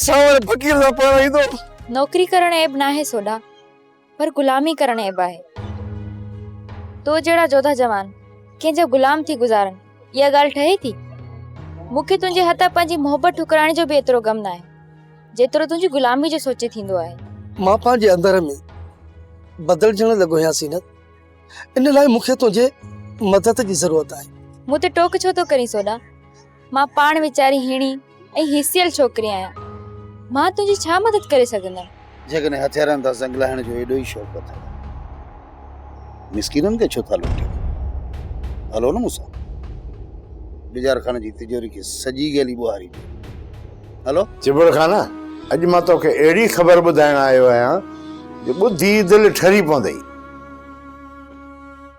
سانور فقير سان پاڻ ايندو. نوڪري ڪرڻ عيب ناهي سوڍا، پر غلامي ڪرڻ عيب آهي. تو جهڙا جوڌا جوان ڪنهن جا غلام ٿي گذارن، اها ڳالهه ٺهي ٿي؟ مون کي تنهنجي هٿان پنهنجي محبت ٺڪرائڻ جو به ايترو غم ناهي، جيترو تنهنجي غلامي جو سوچي ٿيندو آهي. مان پنهنجي اندر ۾ بدلجڻ لڳو آهيان زينت، ان لاء مون کي تنهنجي مدد جي ضرورت آهي. مون تي ٽوڪ ڇو ٿو ڪرين سوڍا؟ مان پاڻ ويچاري هيڻي ۽ هيسيل ڇوڪري آهيان. مان تنهنجي ڇا مدد ڪري سگهندم؟ جيڪڏهن هٿيارن تان زنگ لاهڻ جو ايڏو ئي شوق اٿئو ته مسڪينن کي ڇو ٿا لوٽيو؟ هلو نه مون سان. بجار خان جي تجوري کي سڄي گيلي ٻوهاري ڏيو. هلو. چٻڙ خان، اڄ مان تو کي اهڙي خبر ٻڌائڻ آيو آهيان جو ٻڌي دل ٺري پوندئي.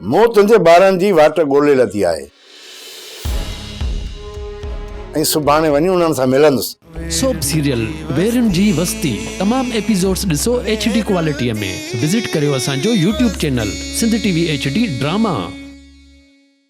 مون تنهنجي ٻارن جي واٽ ڳولي لڌي آهي. ۽ سڀاڻي وڃي انهن سان ملندس. سوپ سيريل ويرين جي وستي تمام ايپيزوڊس ڏسو ايڇ ڊي ڪوالٽي ۾ وزٽ ڪريو اسان جو YouTube channel Sindh T V H D drama.